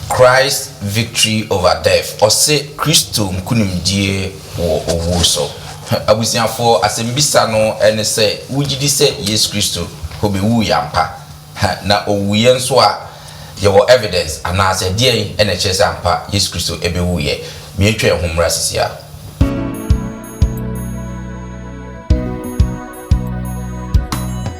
Christ's Victory Over Death, Ɔse Kristo Nkonimdie wɔ Owu So. Abusuafoɔ, asɛmbisa no ne sɛ, wogye di sɛ Yesu Kristo kɔbɛwuiɛ ampa? Na ɔwuiɛ nso a, yɛwɔ evidence anaasɛ deɛn na ɛkyerɛ sɛ ampa Yesu Kristo bɛwuiɛ? Miatwa yɛn ho mmra sisi ara.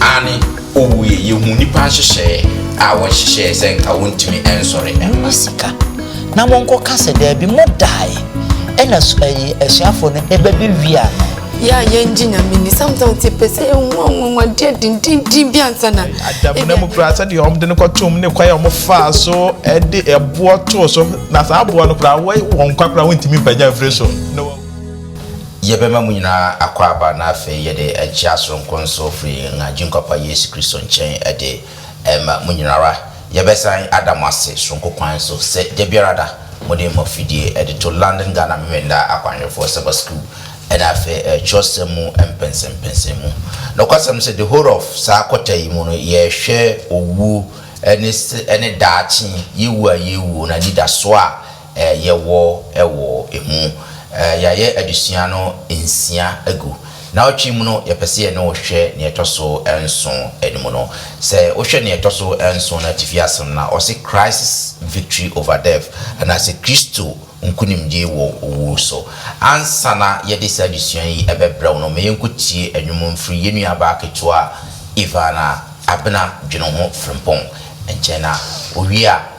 Aane, ɔwuiɛ yɛhuu nnipa nhyehyɛeɛ a wɔhyehyɛeɛ sɛ nka wɔntumi nsɔre mma. Momma sika, na wɔnkɔka sɛ, Daabi, modaeɛ. Ɛnna asu, ɛyi, asuafoɔ no ba bɛwiaa no. Yɛ a yɛngye Nyame ni sometimes nti ɛpɛ sɛ yɛhu anwanwadeɛ dendenden bi ansa na adamena mu koraa sɛdeɛ wɔde no kɔtom ne kwan a wɔfaa so de ɛboɔ too so na saa aboɔ no koraa wɔ wɔn nkwa koraa wɔntumi mpagya mfiri so na Yɛbɛma mo nyinaa akwaaba na afei yɛde akyia soronko nso firi yɛn Agyenkwa Pa Yesu Kristo nkyɛn de rema mo nyinara. Yɛbɛsan ada mo ase soronko kwan so sɛ da biara da mode mo afidie de to London Ghana Memeneda Akwanhwɛfoɔ Sabbath School ɛne afei twerɛsɛm mu mpɛnsɛmpɛnsɛmu. Nokwasɛm ne sɛ the whole of saa kɔta yi mu no yɛrehwɛ owuo ne se ne daakye, yɛwu a yɛrewuo, na anidasoɔ a yɛwɔ wɔ ɛmu. Yɛayɛ adesua no nsia agu. Naawɔtwe mu no, yɛpɛ sɛ yɛne wo hwɛ nea ɛtɔ so nson no mu no. Sɛ wohwɛ nea ɛtɔ so nson no atifi ase no na ɔse Christ's Victory over Death anaasɛ Kristo Nkonimdie wɔ Owu so. Ansa na yɛde saa adesua yi bɛbrɛ wo no, ma yɛnkɔtie nnwom mfiri yɛn nuabaa ketewa Ivana Abena Dweneho Frimpong nkyɛn na ɔwie a,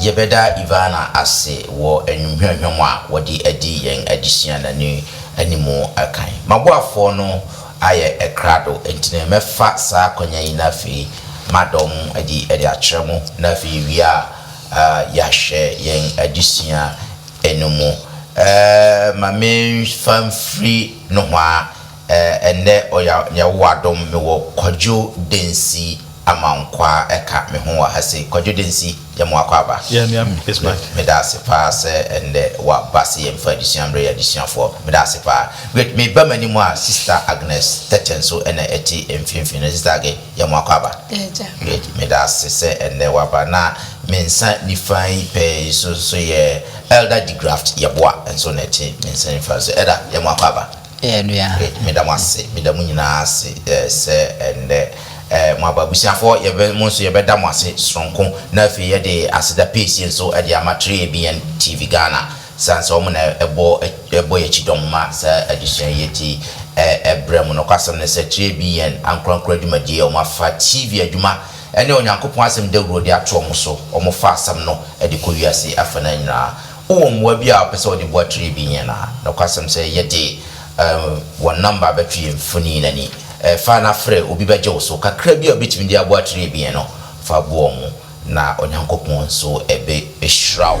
Yɛbɛda Ivana ase wɔ anwummehuamhua mu a wɔde adi yɛn adesua no ani anim kan. M'aboafoɔ no ayɛ krado, enti na mɛfa saa akwannya yi na afei madɔ mo adi de akyerɛ mo, na afei yɛwie a, yɛahwɛ yɛn adesua no mu. Ma memfa mfiri nohoa Eh ɛnnɛ ɔya Nyawowadom me wɔ Kwadwo Densi Amankwaa ɛka me ho wɔ ha sei. Kwadwo Densi yɛ mo akɔ aba. Yeah me am is back. Me da ase paa sɛ ɛnnɛ wa ba sɛ yɛn fa adesua mmerɛ yɛn adesuafoɔ. Me da ase paa. Great. Me ba m'anim a Sista Agnes Tete nso ɛna ɛte mfimfini no. Sista Age yɛ mo akɔ aba. Agya. Great. Me da ase sɛ ɛnnɛ wa ba. Na me nsa nifa yi pɛ yi nso nso yɛ Elder Degraft Yeboah nso na ɛte me nsa nifa so. Elder yɛ mo akɔ aba. Ɛyɛ nua. Meda mo ase, meda mo nyinaa ase sɛ ɛnnɛ mo aba. Abusuafoɔ, yɛbɛ, mo nso yɛbɛda mo ase sononko na afei yɛde aseda piesie nso de ama 3ABN TV Ghana sane sɛ wɔn na ɛbɔ, ɛbɔ yɛn kyidɔm ma saa adesua yi enti ɛbrɛ mo. Nokwasɛm ne sɛ 3ABN ankorankoro adwumadie a wɔafa TV adwuma ne Onyankopɔn Asɛm dawuro de ato wɔn so, wɔfa asɛm no de kɔ wiase afa no nyinaa. Wowɔ mmoa bi a wopɛ sɛ wode boa tray bi yɛn a, nokwasɛm sɛ yɛde wɔn nɔmba bɛto yɛn mfonini no ani. Fa na frɛ, obi bɛgye wo so. Kakra bi a wubetumi de aboa tray bi yɛn no, fa boa wɔn, na Onyankopɔn nso behyira wo.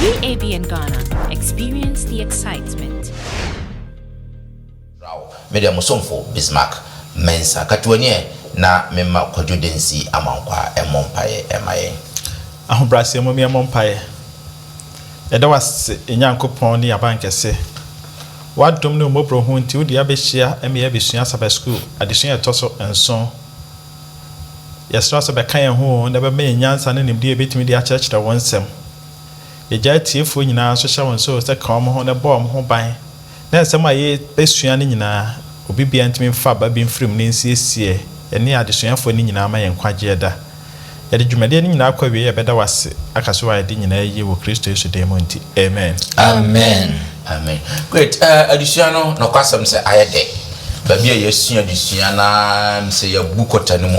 UABN Ghana, experience the excitement. Raw, Me deɛ mo somfo Bismarck Mensah Katuo nie na me ma Kwadwo Densi Amankwah mmɔ mpaeɛ mma yɛn. Ahobrɛaseɛ mom yɛmmɔ mpaeɛ. Yɛda wo ase yɛn Nyankopɔn ne yɛn Abankɛse. W'adom ne wo mmɔborɔhunu nti wode yɛn abɛhyia ɛme yɛn abɛsua Sabbath School adesua a ɛtɔ so nson. Yɛsrɛ sɛ bɛka yɛn ho oo na bɛma yɛn nyansa ne nimdeɛ a yɛbɛtumi de akyerɛkyerɛ wo nsɛm. Yɛgyaa atiefoɔ nyinaa nso hyɛ wɔn nso sɛ ka wɔn ho na bɔ wɔn ho ban na nsɛm a yɛbɛsua no nyinaa obi biara ntumi mfa aba bi mfiri mu na ɛnsiesie yɛne adesuafoɔ no nyinaa ma yɛn nkwagyeɛ da. Yɛde dwumadie no nyinaa kɔ awieɛ a yɛbɛda wo ase aka sɛ woayɛ de nyinaa yie wɔ Kristo Yesu din mu nti, amen. Amen. Amen great eh adesua no nokwasɛm sɛ ayɛ dɛ baabi a yɛasua adesua na sɛ yɛabu kɔta no mu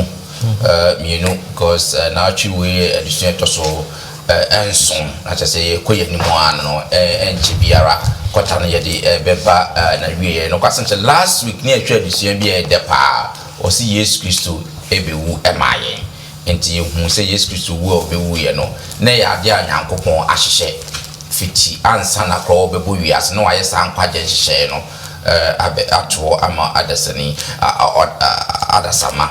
eh, mmienu because eh, naatwe wei adesua ɛtɔ so eh, nson na kyɛ sɛ yɛkɔ yɛn anim a no ɛnkyɛ eh, biara kɔta no yɛde eh, bɛba eh, na wieɛ nokwasɛm sɛ last week ne yɛhwɛ adesua bi a ɛdɛ paa ɔse yesu kristo ɛbɛwu ɛmaa yɛn Enti yɛhu sɛ Yesu Kristo wu a ɔbɛwuiɛ no, na ɛyɛ adeɛ a Nyankopɔn ahyehyɛ fiti ansa na korɔ ɔbɛbɔ wiase na wayɛ saa nkwagyeɛ nhyehyɛeɛ no abɛ atoɔ ama adasani adasamma.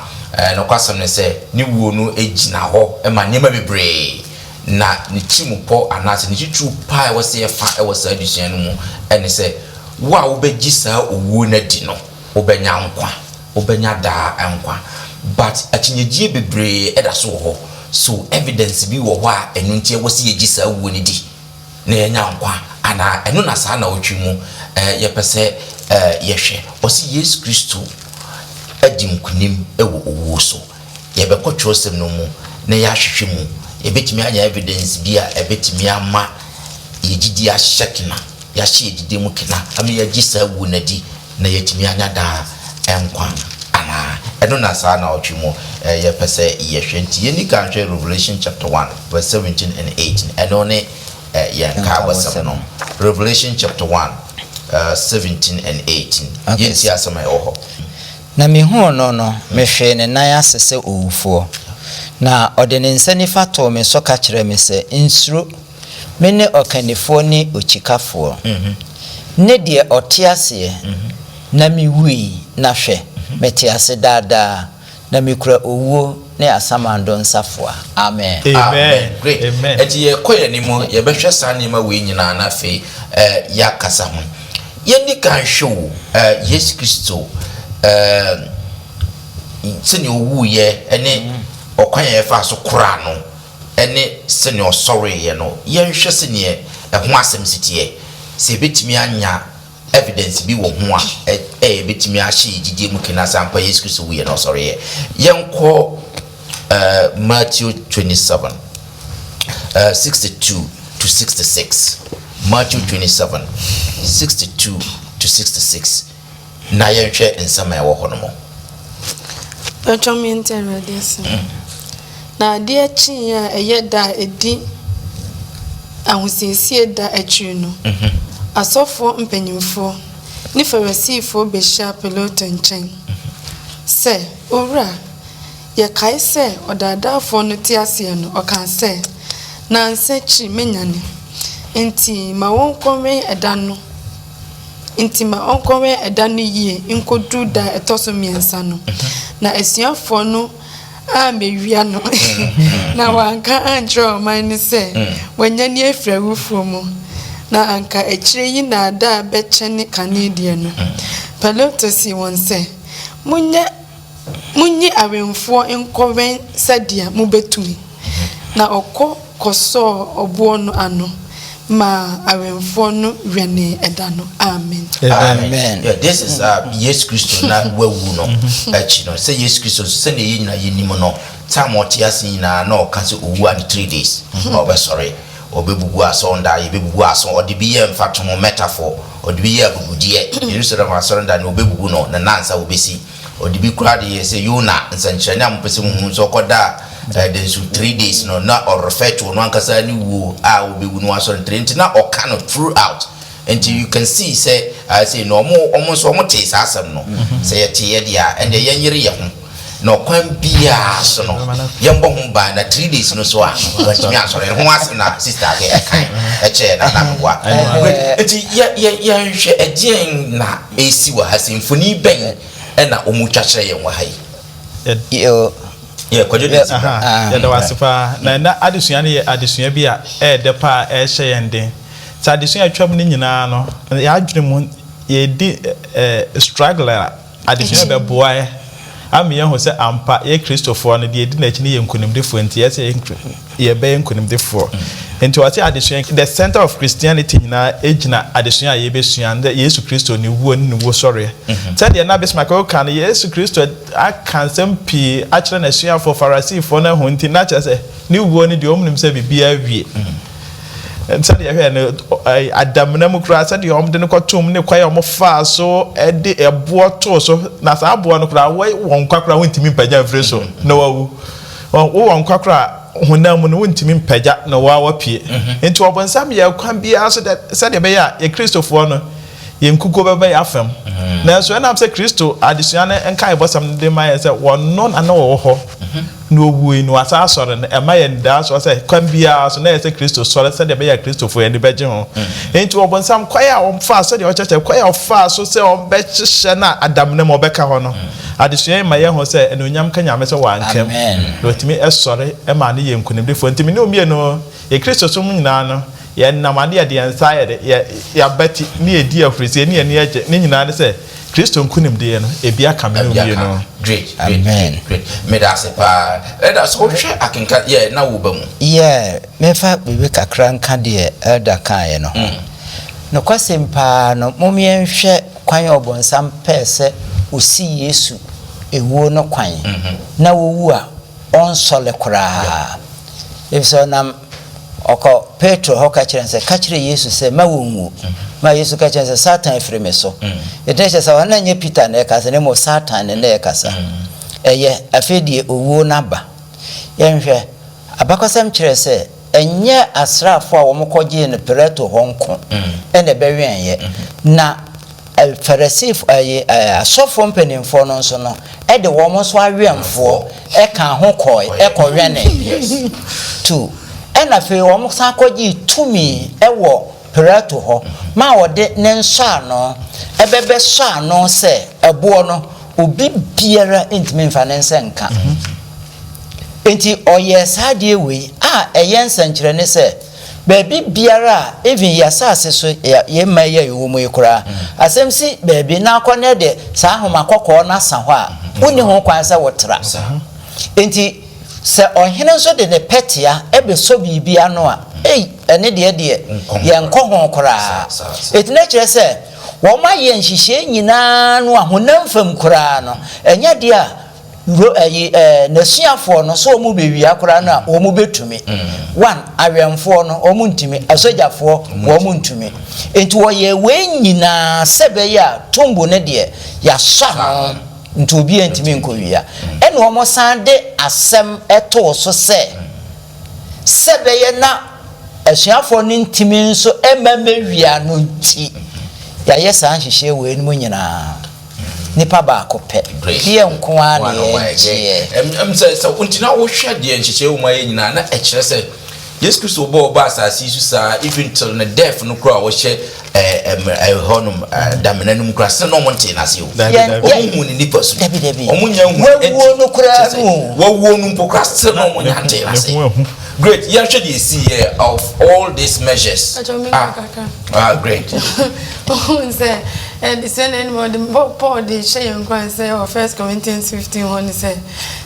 Nokwasɛm ne sɛ, ne wuo no gyina hɔ ma nneɛma bebree, na ne tirimupɔ anaasɛ ne titiriw paa a ɛwɔ sɛ yɛfa wɔ saa adesua no mu ne sɛ, wo a wobɛgye saa owuo no adi no, wobɛnya nkwa, wobɛnya daa nkwa. But akyinnyegyie bebree da so wɔ hɔ. So evidence bi wɔ hɔ a ɛno nti ɛwɔ sɛ yɛgye saa wuo no di na yɛanya nkwa anaa? Ɛno na saa nnawɔtwe mu yɛpɛ sɛ yɛhwɛ. Ɔse Yesu Kristo adi nkunim wɔ owuo so. Yɛbɛkɔ kyerɛwsɛm no mu na yɛahwehwɛ mu. Yebetumi anya evidence bi a ebetumi ama yɛn gyidi ahyɛ kena, yɛahyɛ yɛn gyidi mu kena ama yɛagye saa wu no adi na yɛatumi anya daa nkwa anaa? Ɛno na saa naawɔtwe mu yɛpɛ sɛ yɛhwɛ. Nti yɛnni kan nhwɛ Revelation chapter one verse seventeen and eighteen. Ɛno ne yɛn nkaabɔsɛm no. Revelation chapter one seventeen and eighteen. Yɛntie asɛm a ɛwɔ hɔ. Na mehuu no no, mehwee ne nan ase sɛ owufoɔ. Na ɔde ne nsa nifa too me so ka kyerɛɛ me sɛ, Nsuro! Mene Ɔkannifoɔ ne Okyikafoɔ, ne deɛ ɔte aseɛ. Na mewui, na hwɛ! mete ase daa daa, na mekura owuo. ne asamando nsafoa. Amen. Amen. Great. Amen. Enti yɛkɔ yɛn anim, yɛbɛhwɛ saa nneɛma wei nyinaa na afei eh, yɛakasa ho. Yɛnni kan hwɛ o, eh, Yesu Kristo, eh, sɛnea owuiɛ ne ɔkwan a yɛfaa so koraa no ne sɛnea ɔsɔreeɛ no, yɛnhwɛ sɛdeɛ ɛho asɛm si teɛ, sɛ yɛbɛtumi anya evidence bi wɔ ho a ɛyɛ ɛbɛtumi ahyɛ yɛn gyidie mu kena sɛ ampa Yesu Kristo wuiɛ na ɔsɔreeɛ. Yɛnkɔ eh, Matthew 27, eh, 62 to 66. Matthew 27, 62 to 66. Na yɛnhwɛ nsɛm a ɛwɔ hɔ no mu. Patwa me ntɛ Awurade asɛm. Na adeɛ kyeeɛ a ɛyɛ da a ɛdi ahosiesie da akyire no, asɔfoɔ mpanimfoɔ ne Farisifoɔ bɛhyiaa Pilato nkyɛn sɛ, Owura, yɛkae sɛ ɔdaadaafoɔ no te aseɛ no, ɔkaa sɛ, 'Nnansa akyiri mɛnyane. Enti ma wɔnkɔwɛn ɛda no Enti ma ɔnkɔwɛn ɛda no yie nkɔduru da a ɛtɔ so mmiɛnsa no. Na asuafoɔ no ammewia no, na wanka ankyerɛ ɔman no sɛ wanyane afiri awufoɔ mu, na anka akyire yi nnaadaa bɛkyɛne kane deɛ no. Pilato see wɔn sɛ, Monyɛ, monyi awɛmfoɔ nkɔwɛn sɛdeɛ mobɛtumi. Na ɔkɔ kɔsɔɔ ɔboɔ no ano maa awɛmfoɔ no wɛnee ɛda no. Amen. Amen. Yeah, this is uh, Yesu Kristo na wawu no akyi no. Sɛ Yesu Kristo nso sɛdeɛ yɛn nyinaa yɛnim no, tam ɔte ase nyinaa na ɔka sɛ ɔwu a ne three days na ɔbɛsɔre. Ɔbɛbubu asɔrenda, yɛbɛbubu asɔ. Ɔde bi yɛ mfatoho metaphor, ɔde bi yɛ abubudeɛ. Yerusalem asɔrenda no ɔbɛbubu no, ne nansa ɔbɛsi. Ɔde bi koraa de yɛɛ sɛ Yona nsɛnkyerɛnne a mopɛ sɛ muhu no. Sɛ ɔkɔdaa ɛdan su three days no, na ɔ refer to ɔno ankasa ne wuo a ɔbɛwu no wasɔre no three nti na ɔka no throughout. Nti you can see sɛ ah sei no ɔmo ɔmo nso ɔmo tee saa asɛm no. Sɛ yɛteeɛ deɛ a ɛnneɛ yɛnyere yɛn ho na ɔkwan biara so no yɛmmɔ ho ban na three days no so a wantumi ansɔre. Ɛho asɛm na sister de ɛkae kyɛɛ Nana Ahoboa. Great. Nti yɛ yɛ yɛnhwɛ ɛdeɛn na. resi wɔ ha sei? Mfonin bɛn na wɔretwa kyerɛ yɛn wɔ ha yi? Kwadwo de nsi bra. Yɛda wo ase paa. Na ɛnɛ adesua no yɛ adesua bi a ɛyɛ dɛ paa a ɛrehyɛ yɛn den. Sɛ adesua a atwam no nyinaa no, yɛn adwene mu yɛredi struggle a, adesua no bɛboa yɛn ama yɛahu sɛ ampa yɛn Kristofoɔ no, deɛ yɛdi n'akyi no yɛ nkonimdifoɔ nti ɛsɛ yɛn yɛbɛyɛ nkonimdifoɔ. Nti ɔse adesua yi, the center of Christianity nyinaa gyina adesua a yɛbɛsua ne Yesu Kristo ne wuo ne ne wuosɔreɛ. Sɛdeɛ na Bismarck Ogle ka no, Yesu Kristo aka nsɛm pii akyerɛ n'asuafoɔ, Farasifoɔ no ahu nti na kyerɛ sɛ ne wuo no deɛ wɔn nim sɛ biribiara awie. Sɛdeɛ yɛhwɛɛ no Adamena mu koraa sɛdeɛ wɔn de no kɔtoo mu ne kwan a wɔn faa so de ɛboɔ too so na saa aboɔ no koraa wɔ nkwa koraa wɔntumi mpagya mfiri so na wawu. Wowɔ nkwa koraa a, honam mu no, wontumi mpagya na wo ara woapue. Enti Ɔbonsam yɛ kwan biara so dɛ sɛdeɛ ɛbɛyɛ a yɛ Kristofoɔ no, yɛn nkukuo bɛba yɛn afa mu. Nanso ɛnam sɛ Kristo adesua no nkaebɔsɛm no de ma yɛn sɛ Ɔno na na ɔwɔ hɔ, na Ɔwuui, na Wasan asɔre no, ɛma yɛn anidasoɔ sɛ kwan biara so na ɛyɛ sɛ Kristo sɔre sɛdeɛ ɛbɛyɛ a Kristofoɔ ani bɛgye ho. Enti Ɔbonsam kwan a ɔfaa, sɛdeɛ ɔkyerɛkyerɛ, kwan a ɔfaa so sɛ ɔbɛhyehyɛ no a adamena mu ɔbɛka hɔ no, Adesua yi ma yɛhu sɛ anuonyam nka Nyame sɛ wanka mu na otumi sɔre ma no yɛ nkunimdifoɔ. Nti me ne wo mmienu, yɛ Kristosom mu nyinaa no, yɛnam ade a yɛde yɛn nsa ayɛ de yɛ yɛ abati ne yɛdi ahurusie ne yɛn ani agye ne nyinaa ne sɛ Kristo nkunimdie no ebi aka me ne wo mmienu. Great great great great meda ase paa Elder so wohwɛ akenka yeah na wo ba mu. Yeah menfa biribi kakra nka deɛ Elder kaeɛ no ho. Nokwasɛm paa no mom yɛnhwɛ. Kwan a Ɔbonsam pɛɛ sɛ osi Yesu wuo no kwan na owu a ɔnsɔre koraa, efisɛ ɔnam ɔkɔ Petro hɔ ka kyerɛɛ no sɛ, Ka kyerɛ Yesu sɛ, mma wonwu. Ma Yesu ka kyerɛɛ no sɛ, Satan firi me so. Enti na kyerɛ sɛ ɔno na ɛnyɛ Peter na ɛrekasa na mmom Satan ne no rekasa. Ɛyɛ, afei deɛ owuo no aba. Yɛnhwɛ, abakɔsɛm kyerɛ sɛ Ɛnyɛ asraafo a wɔkɔgyee no Pilato hɔ nko na ɛbɛwɛneeɛ, na Farisifo, ɛɛ, asɔfoɔ mpanimfoɔ no nso no de wɔn nso awɛmfoɔ kaa ho kɔeɛ kɔwɛnee. Two, ɛnna afei wɔsan kɔgyee tumi wɔ Pilato hɔ maa wɔde ne nsɔano bɛbɛsɔɔ ano sɛ ɛboɔ no, obi biara ntumi mfa ne nsa nka. Enti ɔyɛɛ saa adeɛ wei a ɛyɛ nsɛnkyerɛnne sɛ, baabi biara a, even yɛ asase so, yɛ yɛ mma yi a yɛwɔ mu yi koraa, asɛm si baabi na kɔ na de saa nhoma kɔkɔɔ no sa hɔ a, wonni ho kwan sɛ wotra. Enti sɛ ɔhene nso de ne pɛtea bɛsɔ biribi ano a, ei, ɛne deɛ deɛ, yɛnkɔ ho koraa. Enti na kyerɛ sɛ, wɔayɛ nhyehyɛe nyinaa no a, honam fam koraa no, ɛnyɛ adeɛ a, Bro ɛyi ɛɛ nasuafoɔ no sɛ ɔmo bɛ wia koraa no a ɔmo bɛ tumi? One awɛnfoɔ no ɔmo ntumi, asogyafoɔ ɔmo ntumi, nti wɔyɛ wei nyinaa sɛ bɛyɛ a tumbo no deɛ yasɔ ano nti obiaa ntumi nkɔ wia, ɛna ɔmo san de asɛm too so sɛ sɛ bɛyɛ na asuafoɔ no ntumi nso mma mɛ wia no nti yayɛ saa nhyehyɛɛ wei nom nyinaa. Nipa baako pɛ. Deɛ nko ara na yɛgyeɛ. Sɛ nti na wohwɛ deɛ nhyehyɛɛ wɔ mu ayɛ nyinaa na ɛkyerɛ sɛ Yesu Kristo bɔɔ ɔbaa asase yi so saa even till ne death no koraa a wɔhyɛ ɛhɔ nom damena no mu koraa sɛ na wɔn ntee n'ase o. Wɔn hu ne nipa su. Wɔn nya hu. Wawuo no koraa no. Wawuo no mpo koraa sɛ na wɔn nya ntee n'ase. Great yɛnhwɛ deɛ ɛsiiɛ of all these measures ah ah great. Wohuu sɛ adesua na ɛnum ɔde Paul de hyɛ yɛn nkuran sɛ wɔ First Corinthians fifteen hɔ no sɛ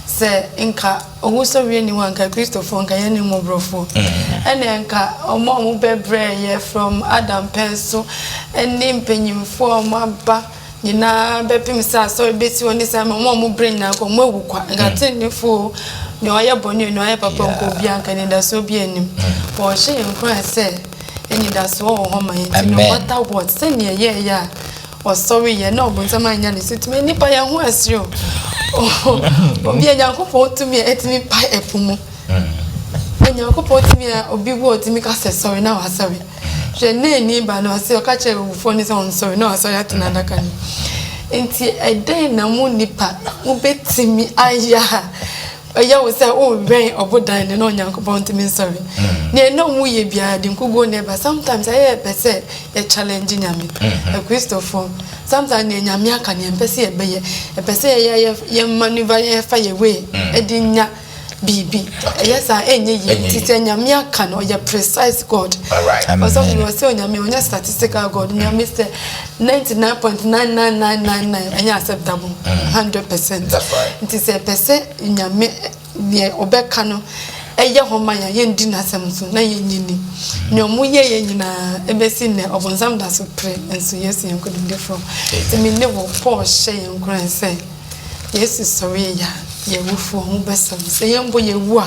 sɛ nka owusɔreɛ ni hɔ anka Kristofoɔ nka yɛn ne mmɔborɔfoɔ mm-hmm. ɛna nka wɔn a wɔbɛbrɛ yɛ from Adam pɛn so ɛne mpanyinfoɔ a wɔn aba Nyinaa bɛpem sɛ asɔre bɛsi hɔ ne sɛ ama wɔn a wɔn berɛ nyinaa kɔ wɔn awu kwa nka mm. tennefoɔ nea ɔyɛ bɔne nea ɔyɛ papa nkɔ obi anka anidasoɔ bi anim mm. but ɔhyɛ yɛn nkuran sɛ anidasoɔ wɔ hɔ ma yɛn nti no matter what sɛnea ɛyɛɛyɛ a ɔsɔre yɛ na ɔbonsam anya ne so tumi nipa yɛn ho asere o obi a nyankopɔn tumi a ɛtumi pa ɛpo mu mm. nyankopɔn tumi a obi wɔ tumi ka sɛ sɔre na wasɔre Hwɛ, Naini ba no, ɔse ɔka kyerɛɛ awufoɔ no sɛ ɔnsɔre na wasɔre ate n'adaka no. Enti ɛdɛn na mo nnipa mobɛtumi ayɛ a ɛyɛ wo sɛ worewɛn ɔbodan no na Onyankopɔn ntumi nsɔre? Deɛ ɛnna ɔmo yɛ biara de nkuguo na ɛba. Sometimes ɛyɛ yɛpɛ sɛ yɛ challenge Nyame. Akristofoɔ, sometimes deɛ Nyame aka no yɛmpɛ sɛ yɛbɛyɛ. Yɛpɛ sɛ yɛyɛ yɛ manoeuvre, yɛfa yɛ way de nya. biribi ɛyɛ saa ɛnyɛ yie nti sɛ nyame aka no ɔyɛ precise god ɔsɔfo no ɔsɛ onyame ɔnyɛ statistical god mm. nyame sɛ 99.99999 ɛnyɛ acceptable 100 mm. percent nti sɛ ɛpɛ sɛ nyame deɛ ɔbɛka no ɛyɛ hɔ ma yɛn yɛndi n'asɛm so na yɛnyi ni mm. nea ɔmo yɛ yɛ nyinaa ɛbɛsi nnɛ ɔbɔnsam da so pere nso yesu yɛn nkonimdifoɔ ɛmi ne wɔ paul hyɛ yɛn nkuran sɛ Yesu sɔree yɛ a, yɛn awufoɔ ho bɛsɔ no. Sɛ yɛn mpo yɛwu a,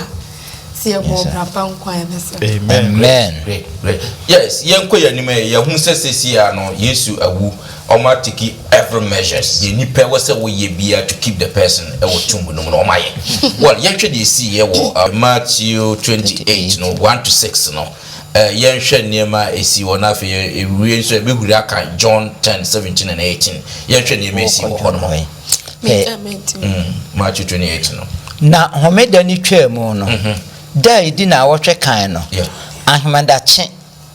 sɛ yɛbɔ ɔbra pa nko a, yɛbɛsɔ no. Amen. Amen. Great, great. Yes, yɛnkɔ yɛn anim ɛ, yɛahu sɛ seesei ara no Yesu awu, wɔatake every measures, deɛ nipa ɛwɔ sɛ woyɛ biara to keep the person ɛwɔ tomb no mu no wɔayɛ. Well, yɛnhwɛ deɛ ɛsiiɛ wɔ Matthew twenty eight no one to six no. Ɛ Yɛnhwɛ nneɛma a esii hɔ na afei yɛ yɛwie nso yɛbɛhuri aka John ten, seventeen and eighteen. Yɛnhwɛ nneɛma a esii wɔ hɔ nom. Ɛ mm, Matthew twenty eight no. Na Homeda no twaam no, da a ɛdi naawɔtwe kan no, ahemadakye,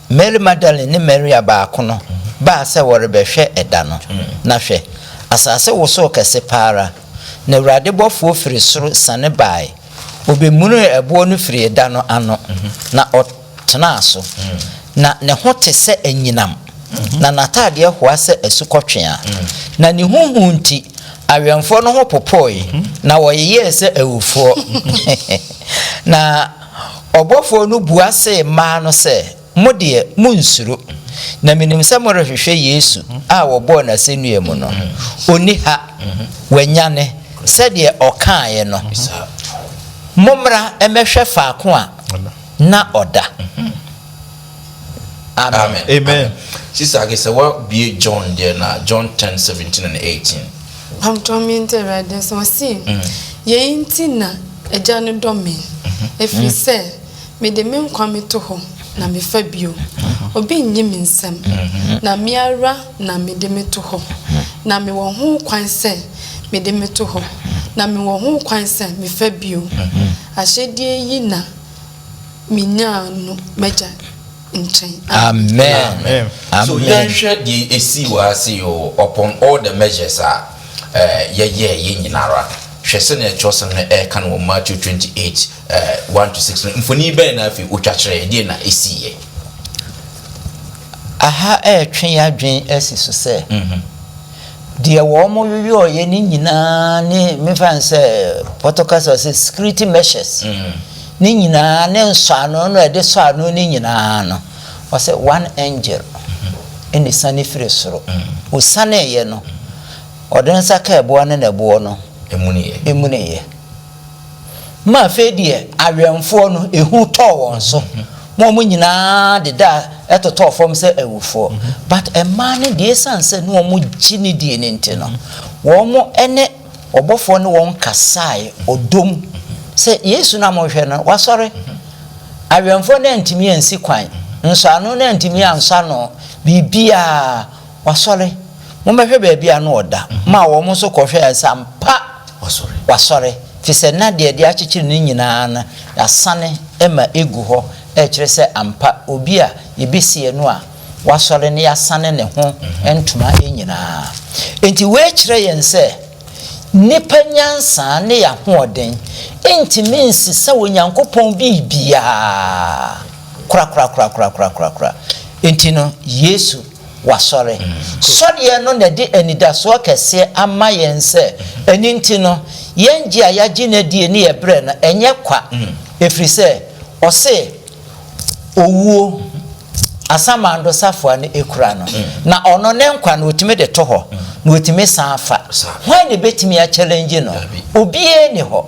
Mary Magdalene ne Maria baako no baa sɛ wɔrebɛhwɛ ɛda no. Na hwɛ! asaase wosoo kɛse pa ara, na Awurade bɔfoɔ firi soro siane baae, Obemunuu ɛboɔ no firii da no ano, na ɔtenaa so. Na ne ho te sɛ anyinam, na n'atadeɛ hoa sɛ asukɔtweaa. Na ne ho hu nti, awɛmfoɔ no ho popoeɛ, na wɔyeyɛɛ sɛ awufoɔ. Na ɔbɔfoɔ no bua see maa no sɛ, Mo deɛ, monnsuro, na menim sɛ morehwehwɛ Yesu a wɔbɔɔ no asɛnnua mu no. Ɔnni ha. Wanyane, sɛdeɛ ɔkaeɛ no. Mommra mmɛhwɛ faako a na ɔda. Amen. Amen. Sista Age, sɛ woabue John deɛ na, John ten, seventeen and eighteen. Mpabotrɔ mente Awurade asɛm. Ɔse, Yei nti na Agya no dɔ me, ɛfiri sɛ. Mede me nkwa meto hɔ na mefa bio, obi nnye me nsam, na me ara na mede me to hɔ, na mewɔ ho kwan sɛ mede me to hɔ, na mewɔ ho kwan sɛ mefa bio. Ahyɛdeɛ yi na menyaa no m'Agya nkyɛn. Amen. Amen. So yɛnhwɛ deɛ ɛsii wɔ ha sei o, upon all the measures a yɛyɛeɛ nyina ara no, hwɛ sɛdeɛ twerɛsɛm no ɛreka no wɔ Matthew 28 Eh, one to six no, mfoni bɛn na afei otwa kyerɛɛ? Deɛn na esiiɛ? Aha ɛretwe yɛn adwene asi so sɛ, Mhm. deɛ wɔyɔyɔeɛ no nyinaa ne, memfa no sɛ Pɔtɔ kasa ɔse security measures Mm. ne nyinaa ne nsɔano no a ɛde sɔ ano no nyinaa no, ɔse one angel ɛna esiane firi soro. Osianeeɛ no, ɔde ne nsa kaa ɛboɔ no na ɛboɔ no Emuneeɛ. emuneeɛ. Ma afei deɛ awɛmfoɔ no, ehu tɔɔ wɔn so, ma wɔn nyinaa dedaa totɔɔ fam sɛ awufoɔ. But mmaa no deɛ, esiane sɛ na wɔgye no die no nti no, wɔne ɔbɔfoɔ ne wɔn kasae ɔdɔ mu sɛ, Yesu no a morehwɛ no, wasɔre! Awɛmfoɔ no antumi ansi kwan, nsɔano no antumi ansɔ ano, biribiara, Wasɔre! Mommɛhwɛ baabi a na ɔda, maa wɔn nso kɔhwɛɛ, sɛ ampa wasɔre, ɛfiri sɛ na deɛ ɛde akyekyere no nyina ara no, yɛasane ma ɛgu hɔ, ɛrekyerɛ sɛ ampa obi a yɛbɛsie no a wasɔre no, yɛasane ne ho ntoma nyina ara. Enti wei kyerɛ yɛn sɛ, nnipa nyansa ne yɛn ahoɔden ntumi nsesa Onyankopɔn biribiara korakorakorakorakorakorakora. Enti no, Yesu Wasɔre. Sɔreɛ no na ɛde anidasoɔ kɛseɛ ama yɛn sɛ ɛno nti no, yɛn gye a yɛagye no adie ne yɛn berɛ no, ɛnyɛ kwa. Ɛfiri sɛ, ɔse, Owuo, asamando safoa no kura no, na ɔno ne nkwa no ɔtumi de to hɔ, na ɔtumi san fa. Hwan na ɛbɛtumi a challenge no? Obiara nni hɔ.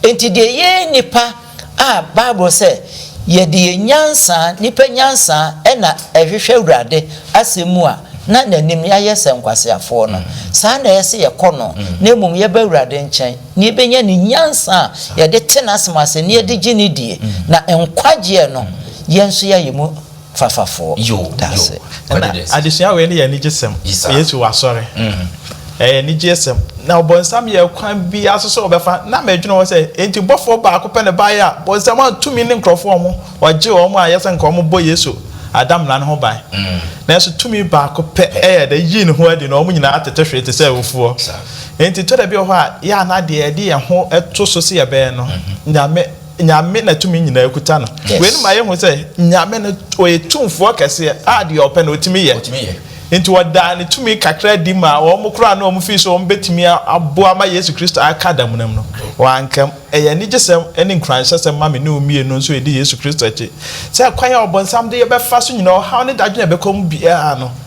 Enti deɛ yɛn nnipa. a Bible sɛ yɛde yɛn nyansa, nnipa nyansa, na ɛhwehwɛ Awurade asɛm mu a, na n'anim no yɛayɛ sɛ nkwaseafoɔ no. Saa ara na ɛyɛ sɛ yɛkɔ no, na mmom yɛba Awurade nkyɛn na yɛbɛnya ne nyansa a yɛde te n'asɛm ase na yɛde gye no die, na nkwagyeɛ no yɛn nso yɛayɛ mu. fafafoɔ daase. Ɛna adesua wei no yɛ anigyesɛm. Yesu wasɔre. Ɛyɛ anigyesɛm. Na ɔbɔnsam yɛɛ kwan biara so sɛ ɔbɛfa. Na medwene ho sɛ, enti bɔfoɔ baako pɛ na ɛbaeɛ a bɔnsam antumi ne nkurɔfoɔ wɔn, ɔgyee wɔn a ɛyɛ sɛ anka wɔbɔ Yesu adamena no ho ban. Nanso tumi baako pɛ yɛɛ dɛ yii ne ho adi na wɔn nyinaa tete hwee te sɛ awufoɔ. Enti tɔ da bi wɔ hɔ a yɛa na deɛ yɛde yɛn ho to so sɛ yɛbɛyɛ no, Nyame Nyame na tumi nyinaa kuta no. Wei no ma yɛ hu sɛ Nyame no ɔyɛ tumfoɔ kɛseɛ a deɛ ɔpɛ no ɔtumi yɛ. Nti ɔdaa ne tumi kakra adi maa wɔn koraa na wɔn fii sɛ wɔn bɛtumi aboa ma Yesu Kristo aka damuna mu no. Wanka mu. Ɛyɛ anigyesɛm ne nkuranhyɛsɛm ma me ne wo mmienu nso a yɛdi Yesu Kristo akyi sɛ kwan a ɔbonsam de yɛbɛfa so nyinaa, ɔhaw ne dadwene a ɛbɛkɔ mu biara no,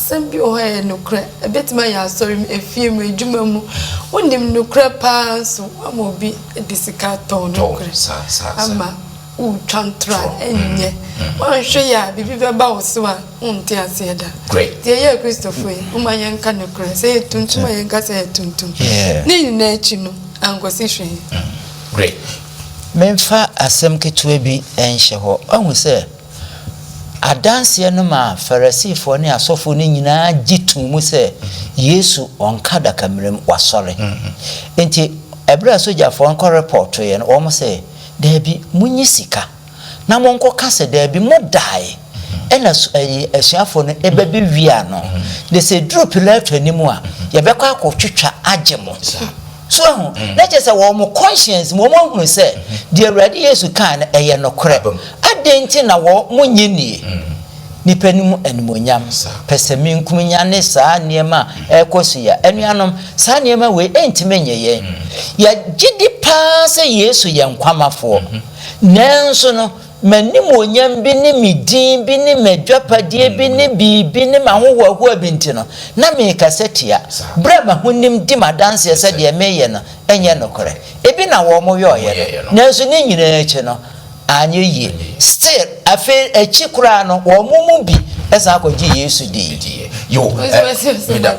Asɛm bi wɔ hɔ a ɛyɛ nokorɛ, ɛbɛtumi ayɛ asɔre mu, efie mu, adwuma mu, wonim nokorɛ paa nso woama obi de sika atɔn nokorɛ ama woretwa ntorɔ a ɛnyɛ, woanhwɛ yie a biribi bɛba wo so a wonte aseɛ da. Nti yɛyɛ Kristofo yi, momma yɛnka nokorɛ, sɛ ɛyɛ tuntum a yɛnka sɛ ɛyɛ tuntum, ne nyinaa akyi no ankɔsi hwee. Great. Memfa asɛm ketewa bi nhyɛ hɔ. Woahu sɛ. Adanseɛ no maa Farisifoɔ ne asɔfoɔ no nyinaa gye too mu sɛ Yesu ɔnka adakamena mu, wasɔre. Enti ɛberɛ a sogyafoɔ no kɔrepɔɔtoeɛ no, wɔn se, Daabi, monyi sika na monkɔka sɛ, 'Daabi, modaeɛ, ɛnna asuafoɔ no ba bɛwiaa no, na sɛ ɛduru Pilato anim a, yɛbɛkɔ akɔtwitwa agye mo. So wahu? Na kyerɛ sɛ wɔ wɔn conscience mu wɔahunu sɛ deɛ Awurade Yesu kae no, ɛyɛ nokorɛ. Adɛn nti na wɔnnye nnie? Nnipa no mu animuonyam, pɛsɛmenkominya ne saa nneɛma a ɛrekɔ so yi a, anuanom, saa nneɛma wei ɛntumi nnye yɛn. Yɛgye di pa ara sɛ Yesu yɛ Nkwamafoɔ, nanso no, m'animuonyam bi ne me din bi ne m'adwapadeɛ bi ne biribi ne m'ahohoahoa bi nti no, na merekasa tia berɛ a m'ahonim di m'adanseɛ sɛ deɛ mereyɛ no nyɛ nokorɛ. Ebi na wɔyɔeɛ no, nanso ne nyinaa akyi no, anyɛ yie. Still, afei akyi koraa no, wɔn mu bi san kɔgyee Yesu diiɛ. yo meda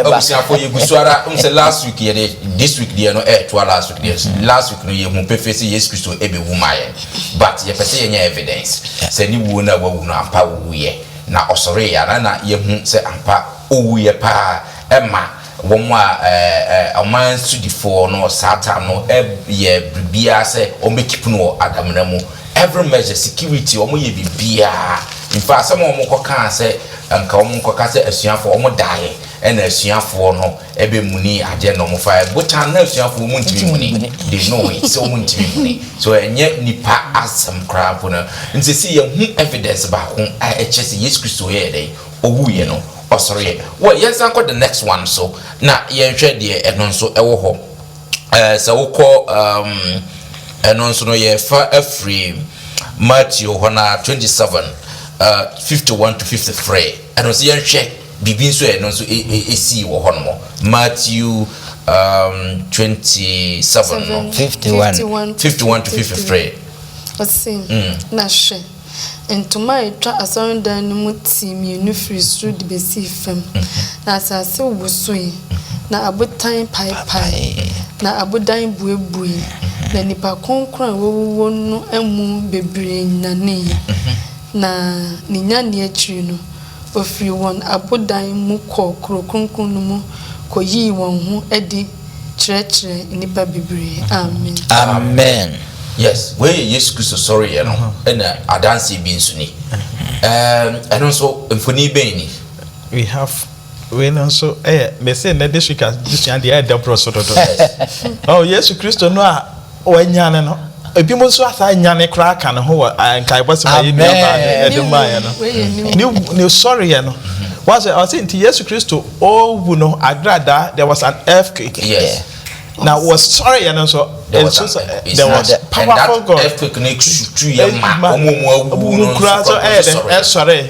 abusuafo yɛ gu so ara n sɛ last week yɛ de this week deɛ no ɛɛtoa eh, last week deɛ mm. last week no yɛ hu pefee sɛ yesu kristo ɛbɛwu ma yɛn but yɛpɛ sɛ yɛnya evidence sɛ ne wuo no a wawu no ampa wuyɛ na ɔsɔre yɛ ana na yɛhu sɛ ampa owuyɛ paa ɛma Wɔn a ɔman sodifoɔ no, Satan no, yɛ biribiara sɛ wɔbɛkeep no wɔ adamena mu. Every measure, security, wɔyɛ biribiara. In fact, asɛm a wɔkɔkaa sɛ anka wɔnkɔka sɛ asuafoɔ, wɔdaeɛ ɛna asuafoɔ no bɛmuni adeɛ na wɔfaeɛ. Botan na asuafoɔ wɔntumi mmuni. They know it sɛ wɔntumi mmuni. So ɛnyɛ nnipa asɛm koraa mpo no. Nti seesei yɛahu evidence baako a ɛkyerɛ sɛ Yesu Kristo yɛɛ dɛn? owuiɛ no ɔsoreɛ. Well yɛnsan nkɔ the next one so na yɛnhwɛ deɛ ɛno nso ɛwɔ hɔ. Ɛɛ sɛ wokɔ um, ɛno nso no yɛfa afiri Matthew hɔ na 27 uh, 51 to 53 ɛno nso yɛnhwɛ biribi nso ɛno nso ɛsii wɔ hɔ nom Matthew um, 27 no 51 51 to 53 ɔse mm. na hwɛ Ntoma a etwa asɔredan no mu ti mmienu firii soro de bɛsii fam, na asase wosoe, na abotan paepaee, na abodan buebuei, na nnipa kronkron a wɔawuwu no mu bebree nyaneeɛ, na ne nyaneɛ akyiri no, wɔfirii wɔn abodan mu kɔɔ kuro kronkron no mu kɔyii wɔn ho adi kyerɛkyerɛ nnipa bebree. Amen. Amen yes wei yɛ Yesu Kristo sɔre yɛ no ɛna adanseɛ bi nso ni ɛɛm ɛno nso mfoni bɛn ni. We have wei no nso ɛyɛ mɛsɛ nnɛ district adesua deɛ ɛdɛ borɔ so dodo oh Yesu Kristo no a Wanyane no. Ebinom nso asan nyane koraa ka ne ho wɔ nkaebɔsɛm a yɛn nuabaa no de maeɛ no. Ne wu, ne sɔreɛ no. Wɔasɛ ɔse nti Yesu Kristo ɔwu no agradaa, there was an earthquake. Yes. Na wɔsɔreɛ no nso, nso sɛ there was powerful God. Earthquake no tutuiɛ ma wɔn a wɔawuwu no nso kura kura sɔree.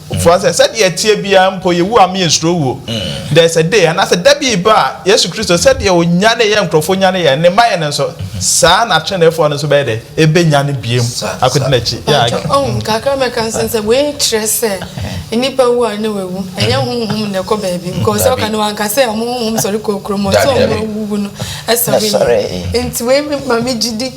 Ɔtoa sɛ, Sɛdeɛ ɛteɛ biara mpo yɛwu a mensuro wuo. There is a day, anaasɛ da bi reba a Yesu Kristo, sɛdeɛ ɔnyanee yɛn nkurɔfoɔ nyane yɛn, Ne mma yɛn no nso, saa ara na ateneneefoɔ no nso bɛyɛ dɛ? Ɛbɛnyane bio akɔdi N'akyi. Yeah, I Mpakyɛw, ɔhom kakra mɛka nso ne sɛ, wei nkyerɛ sɛ nnipa wu a na wɔawu. Ɛnyɛ honhom na ɛkɔ baabi, because sɛ ɔka no, wanka sɛ wɔn honhom sɔre kɔ kurom hɔ, sɛ wɔn a wɔawuwu no sɔreeɛ. Nti wei ma me gyidi.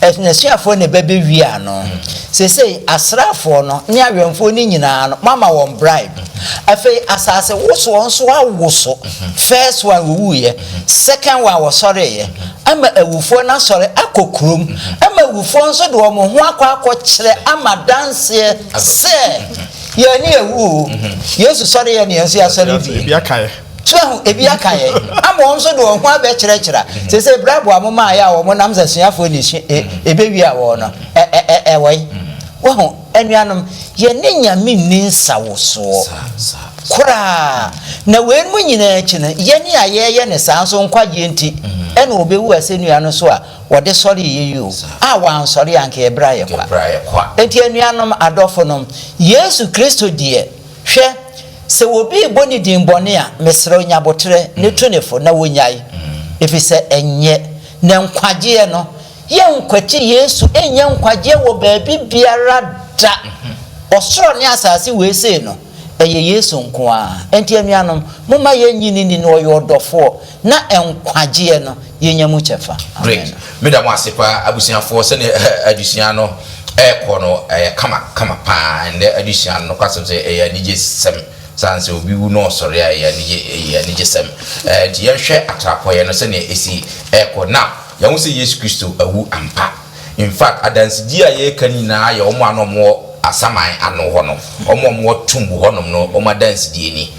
N'asuafoɔ na ɛbɛbɛwiaa no. Seesei asraafoɔ no ne awɛmfoɔ no nyinaa no, moama wɔn bribe. Afei asase wosoɔ nso awoso. First one wɔwuiɛ, second one wɔsɔreeɛ, ama awufoɔ no asɔre akɔ kurom, ama awufoɔ nso de wɔn ho akɔ akɔkyerɛ ama adanseɛ sɛ, Yɛn ani awu o, Yesu sɔreeɛ na yɛn nso yɛasɔre bio. Kyerɛ ho ebi aka yɛn ama wɔn nso de wɔn ho abɛkyerɛkyerɛ. Sese bere aboa mo maa yɛ a wɔn nam sɛ suafoɔ na esu e ebewie a wɔn no ɛ ɛ ɛ ɛwɔe. Wahu, anuanom, yɛn ne Nyame nni nsawosoɔ koraa. Na weinom nyinaa akyi no, yɛn a yɛyɛ no saa nso nkwagyeɛ nti ɛna ɔbewu asɛnnua no so a wɔde sɔree yɛn yi o. A wansɔre a anka yɛbrɛ ayɛ kwa. Enti anuanom adɔfonom, Yesu Kristo deɛ. Hwɛ, sɛ obi rebɔ ne din bɔne a, mesrɛ wo, nya aboterɛ, ne tu no fo, na ɔnnyae, ɛfiri sɛ ɛnyɛ na nkwagyeɛ no. Yɛnkwati Yesu nnya nkwagyeɛ wɔ baabi biara da. Ɔsoro ne asase wei sei no, ɛyɛ Yesu nko ara. Enti anuanom, momma yɛnnye no nni na ɔyɛ ɔdɔfoɔ. Na nkwagyeɛ no yɛnya mu kyɛfa. Great. Amen. Meda mo ase paa abusuafoɔ sɛdeɛ adesua no ɛrekɔ no ɛyɛ kama kama paa ɛnnɛ adesua no nokwasɛm sɛ ɛyɛ anigye sɛm saa nsɛ obi wu na ɔsɔre a ɛyɛ anigye ɛyɛ anigye sɛm ɛɛ nti yɛnhwɛ atrapɔeɛ no sɛdeɛ ɛsi ɛrekɔ now yɛahu sɛ Yesu Kristo awu ampa In fact, adansedie a yɛreka no nyinaa yɛ wɔn a na wɔwɔ asaman ano hɔ no, wɔn a wɔwɔ tomb hɔnom no, wɔn adansedie ni.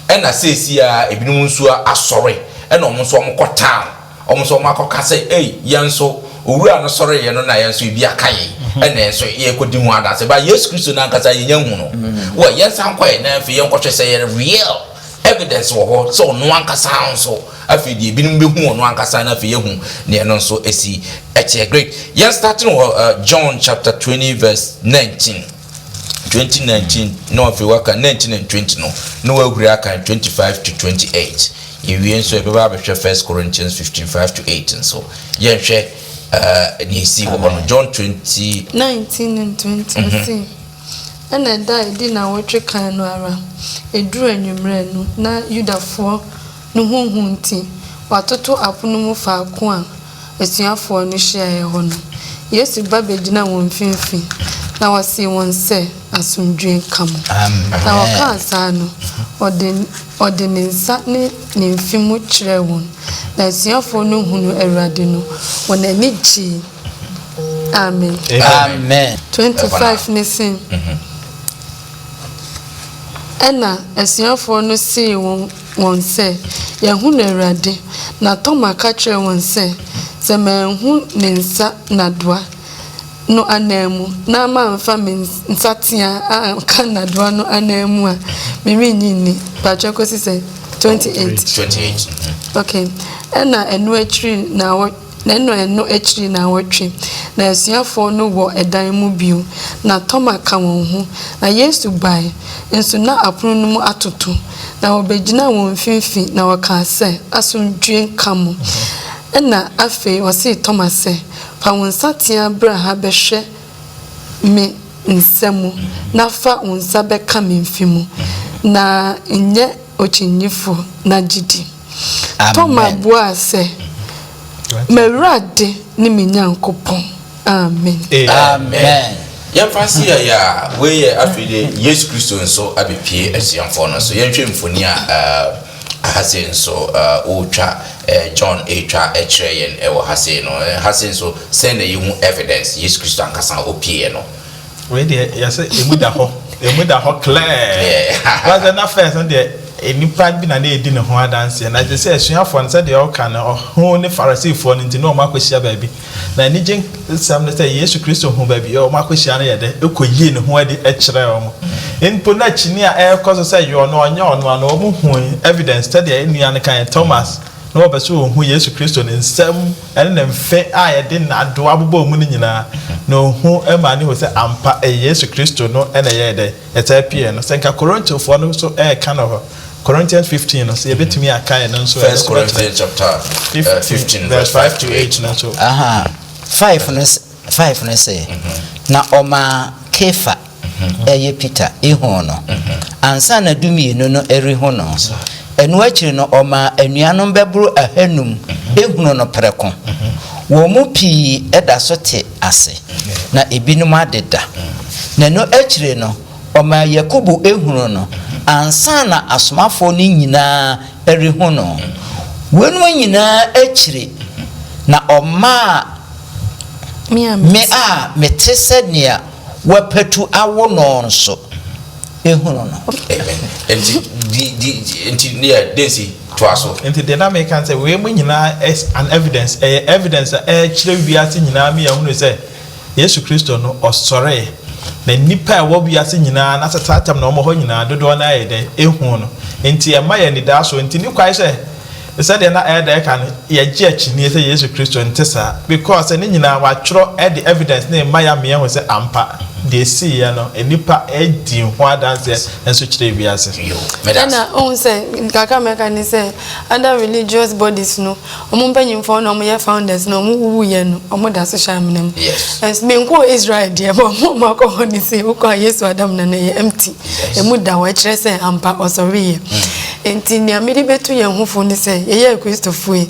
Ɛna seesei ara ebinom nso asɔre, ɛna wɔn nso wɔkɔ town, wɔn nso wɔakɔka sɛ, Ei, yɛn nso, Owura no sɔreeɛ no na yɛn nso ebi aka yɛn, ɛna yɛn nso yɛrekɔdi ho adanseɛ. But Yesu Kristo no ankasa yɛnnya nhuu no. Well, yɛnsan nkɔ yɛn nan afei yɛnkɔhwɛ sɛ ɛyɛ real. Evidence wɔ hɔ sɛ ɔno ankasa nso afei deɛ ebinom bɛhu ɔno ankasa no afei ahu deɛ ɛno nso asi ɛkyɛ great yɛn start no wɔ John chapter twenty verse nineteen twenty nineteen na afei waka nineteen and twenty no na wahuri akan twenty five to twenty eight yɛwie nso yɛbɛba abɛhwɛ first Corinthians fifteen five to eight nso yɛnhwɛ ɛɛ nea esi wɔ hɔ no John twenty nineteen and twenty ɔsi. Ɛnna da a edi nnawɔtwe kan no ara, eduu anwummere no, na Yudafoɔ no ho hu nti, wɔatoto apono mu faako a asuafoɔ no hyiaeɛ hɔ no. Yesu ba bɛgyinaa wɔn mfimfini, na ɔsee wɔn sɛ, Asomdwoeɛ nka mo. Na ɔkaa saa no, ɔde ɔde ne nsa ne ne mfe mu kyerɛɛ wɔn. Na asuafoɔ no hunuu Awurade no, wɔn ani gyee. Amen. Amen. 25 no se, Ɛnna asuafoɔ no see wɔn sɛ, Yɛahunu Awurade. Na Toma ka kyerɛɛ wɔn sɛ, Sɛ manhu ne nsa n'adoa no ananmu na mamfa me nsateaa anka n'adoa no ananmu a, merennye nni. Mpakyɛ kɔsi sɛn? 28. 28. Okay. Ɛnna ɛno akyiri nnawɔ. Na ɛnna ɛno akyiri nnawɔtwe, na asuafoɔ no wɔ dan mu bio, na Toma ka wɔn ho. Na Yesu bae, nso na apono no mu atoto, na ɔbɛgyinaa wɔn mfimfini, na ɔkaa sɛ, Asomdwoeɛ nka mo. Ɛnna afei ɔsee Toma sɛ, Fa wo nsateaa bra ha bɛhwɛ me nsa mu, na fa wo nsa bɛka me mfe mu, na nyɛ ɔkyinnyɛfoɔ, na gye di. Toma buaa sɛ, M'Awurade ne me Nyankopɔn. Amen. Yɛmfa si ayɛ a, wei yɛ afei de Yesu Kristo nso abɛpue asuafoɔ no so. Yɛnhwɛ mfoni a ha sei nso wɔretwa, John retwa kyerɛ yɛn wɔ ha sei no. Ha sei nso, sɛn na yɛhu evidence Yesu Kristo ankasa a ɔpueɛ no? wei deɛ yɛsɛ ɛmu da hɔ ɛmu da hɔ clear wasɛ na first no deɛ nipa bi na na ɛdi ne ho adanseɛ na gye sɛ asuafoɔ no sɛdeɛ ɔka no ɔho ne farisifoɔ no nti na ɔma akɔhyia baabi na anigye nsɛm no sɛ yesu kristo hu baabi ɔma akɔhyia no yɛ dɛ ɛkɔ yie ne ho adi kyerɛ ɔmo mpo na kyini a ɛrekɔ so sɛ yɔ no ɔnyɛ ɔno ano ɔmo hu evidence sɛdeɛ nnua no kan thomas na wɔpɛ sɛ wɔhu Yesu Kristo, ne nsɛm ne ne mfe a yɛde nnadewa bobɔɔ mu no nyinaa, na ohu maa no hui sɛ ampa ɛyɛ Yesu Kristo no na ɛyɛɛ dɛn? Ɛtaa piee no. Sɛ anka Korintofoɔ no nso reka no hɔ, Corinthians fifteen no, sɛ yɛbɛtumi akae no nso a, ɛno nso bɛkyerɛ fifteen verse five to eight no nso. Aha, five no, five no sɛ, Na ɔmaa Kefa. Ɛyɛ Peter, ihun no, ansa na Dumienu no rehu no. Ɛno akyiri no, ɔmaa anuanom bɛboro ahanum hunuu no prɛko. Wɔn mu pii da so te ase, na ebinom adeda. Na ɛno akyiri no, ɔmaa Yakobo hunuu no, ansa na asomafoɔ no nyinaa rehu no. Weinom nyinaa akyiri na ɔmaa me a mete sɛ nea Wapatu awo no nso, ehunu no. Enti, di, di, enti, deɛ, deɛ nsi, toa so. Enti deɛ na meka ne sɛ, wei mu nyinaa is an evidence, ɛyɛ evidence a ɛrekyerɛ wiase nyinaa ma yɛahunu sɛ, Yesu Kristo no, Ɔsɔree, na nnipa a ɛwɔ wiase nyinaa, na asaseatam na wɔwɔ hɔ nyinaa, dodoɔ no ara yɛ dɛn? Ehuu no. Enti ɛma yɛn anidasoɔ. Enti ne kwae sɛ. Sɛdeɛ na ɛyɛ dɛ kan no, yɛgye akyinnye sɛ Yesu Kristo nte saa because sɛ ne nyinaa wɔatwerɛ de evidence no rema yɛ ama yɛahu sɛ ampa deɛ ɛsiiɛ no nnipa di ho adanseɛ nso kyerɛ wiase. Ɛna wohu sɛ kakra mɛka ne sɛ other religious bodies no wɔn mpanyinfoɔ na wɔyɛ founders no wɔn wuwuiɛ no wɔn da so hyɛ amena mu. Menkɔɔ Israel deɛ but wɔn a wɔakɔ hɔ no se wokɔ a Yesu adamena no ɛyɛ empty. emu da hɔ, ɛkyerɛ sɛ ampa ɔsɔreeɛ. Enti nea mede bɛtu yɛn ho fo ne sɛ yɛyɛ Kristofo yi,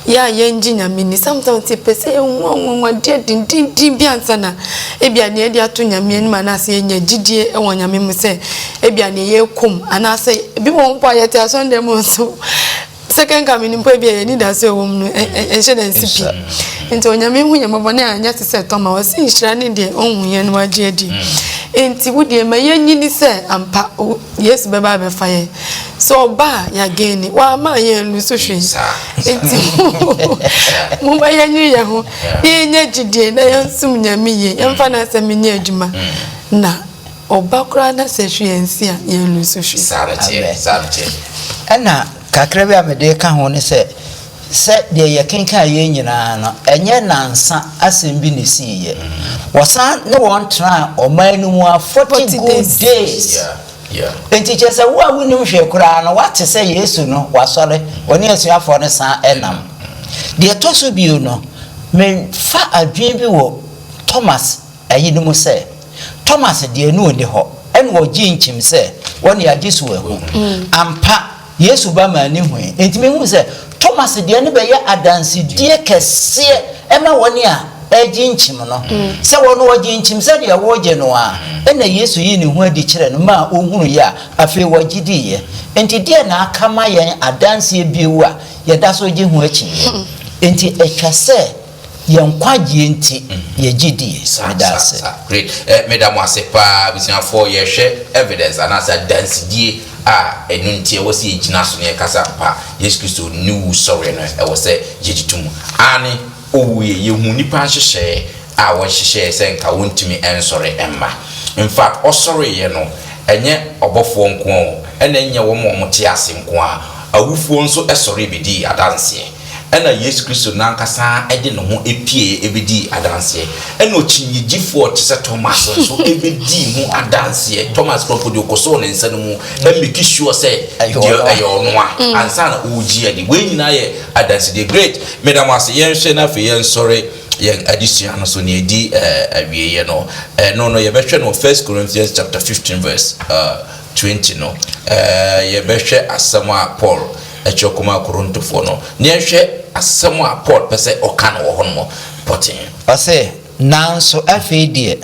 yɛ a yɛngye Nyame nni. Sometimes yɛpɛ sɛ yɛhu anwanwadeɛ dendenden bi ansa na ebia nea yɛde ato Nyame anim anaasɛ yɛanya gyidie wɔ Nyame mu sɛ ebia nea yɛrekɔ mu anaasɛ ebi wɔ hɔ mpo a yɛte asɔre dan mu nso sɛ kɛnka me nimpa bi a yɛni da sɛ ɛwɔ mu no ɛnhyɛ da nsi pi nti onyame hu yɛn bɔbɔ ne anyɛ te sɛ tɔma ɔse nhyira ne deɛ ɔhu yɛn no agye adi nti wo deɛ ma yɛnyini sɛ ampa yesu bɛba abɛfa yɛn sɛ ɔba a yɛagɛn ni wama yɛn lu so hwee nti momma yɛnyere yɛn ho na yɛnya gyidie na yɛnsom nyame yie yɛmfa no asɛm nyɛ adwuma na Ɔba koraa na sɛ hwee nsi a, yɛn no nso hwee. Saa no teɛ, saa no teɛ. Ɛna kakra bi a mede reka ho ne sɛ, sɛ deɛ yɛkenkaeɛ nyinaa no, ɛnyɛ nansa asɛm bi na ɛsiiɛ. Wɔsan ne wɔn tenaa ɔman no mu ara forty good days. Enti kyerɛ sɛ wo a wonnim hwee koraa no, woate sɛ Yesu no, wasɔre, ɔne asuafoɔ no san nam. Deɛ ɛtɔ so bio no, mefa adwene bi wɔ Thomas. Ayi no mu sɛ, Thomas deɛ ne ɔnni hɔ, ɛna ɔgyee nkyim sɛ, Wɔne agye so ahu. Ampa, Yesu ba maa ne hui. Enti mehunu sɛ, Thomas deɛ no bɛyɛ adansedie kɛseɛ ma wɔne a ɛregye nkyim no. Sɛ wɔno ɔgyee nkyim sɛdeɛ woregye no ara, ɛna Yesu yii ne ho adi kyerɛɛ no maa ɔhunuiɛ a, afei ɔgye diiɛ. Enti deɛn na aka ma yɛn adanseɛ bio a yɛda so gye ho akyinnyeɛ? Enti ɛtwa sɛ Yɛn nkwagyeɛ nti yɛgye die. Meda ase. Meda mo ase paa abusuafoɔ yɛhwɛ evidence anaasɛ adansedie a ɛno nti ɛwɔ sɛ yɛgyina so na yɛkasa ampa Yesu Kristo ne wu sɔreɛ no ɛwɔ sɛ yɛgye to mu aane owuiɛ yɛhuu nnipa nhyehyɛɛ a wɔhyehyɛɛ sɛ nka wɔntumi nsɔre mma infact ɔsɔreeɛ no ɛnyɛ ɔbɔfoɔ nko ara o ɛna ɛnyɛ wɔn a wɔte ase nko ara awufoɔ nso sɔree bɛdii adanseɛ. Ɛnna Yesu Kristo no ankasa ara de ne ho pieeɛ bɛdii adanseɛ. Ɛnna ɔkyinnyegyefoɔ te sɛ Thomas nso bɛdii ho adanseɛ. Thomas kura mpo deɛ ɔkɔsoo ne nsa no mu make sure sɛ deɛ ɛyɛ ɔno a, ansa na ɔregye adi. Wei nyinaa yɛ adansedie. Great! Meda mo ase. Yɛnhwɛ na afei yɛnsɔre yɛn adesua no so. Nea ɛdi awieeɛ no, ɛno no yɛbɛhwɛ no wɔ First Corinthians chapter fifteen verse twenty no. Yɛbɛhwɛ asɛm a Paul. Kyerɛ koma Korintofoɔ no. Na yɛnhwɛ asɛm a Paul pɛ sɛ ɔka no wɔ hɔnom pɔtee. Ɔse, Nanso afei deɛ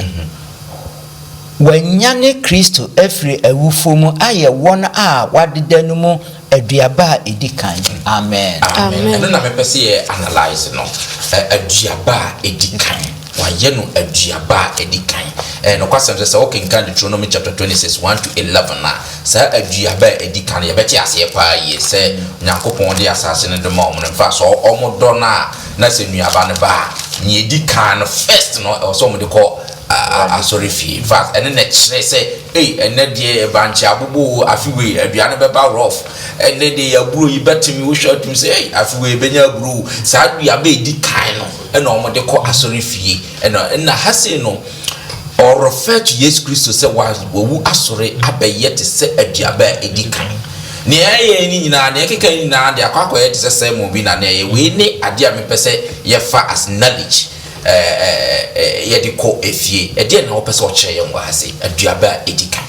wɔanyane Kristo afiri awufoɔ mu ayɛ wɔn a wɔadeda no mu aduaba a ɛdi kan. Amen. Amen. Ɛno na mepɛ sɛ yɛ analyse no. Aduaba a ɛdi kan. Wɔayɛ no aduaba a ɛdi kan. Ɛyɛ nokwasɛm sɛ sɛ wokenkan Deuteronomy chapter 26, 1-11 a, Saa aduaba a edi kan no, yɛbɛte aseɛ paa yie sɛ Onyankopɔn de asase no de ma wɔn no mfa so. Wɔdɔ no a, na sɛ nnuaba no ba a, nea edi kan no, first no, ɛwɔ sɛ wɔde kɔ asɔrefie. In fact, ɛno na ɛkyerɛ sɛ, ei, ɛnnɛ deɛ bankye abobɔ o, afe wei aduan no bɛba rough. Ɛnnɛ deɛ yɛn aburo yi bɛteme, wohwɛ a wotumi sɛ, ei, afe wei yɛbɛnya aburo o. Saa aduaba a edi kan no na wɔde kɔ asɔrefie. Ɛnna ha sei no, Ɔrefɛtu Yesu Kristo sɛ wawu asɔre abɛyɛ te sɛ aduaba a edi kan. Nea ɛyɛ ne nyinaa, nea ɛkeka ne nyinaa de akɔ akɔyɛ te sɛ sermon bi na na ɛyɛ. Wei ne ade a mepɛ sɛ yɛfa as knowledge yɛde kɔ fie. Ɛdeɛn na wɔpɛ sɛ wɔkyerɛ yɛn wɔ ha sɛ aduaba a edi kan?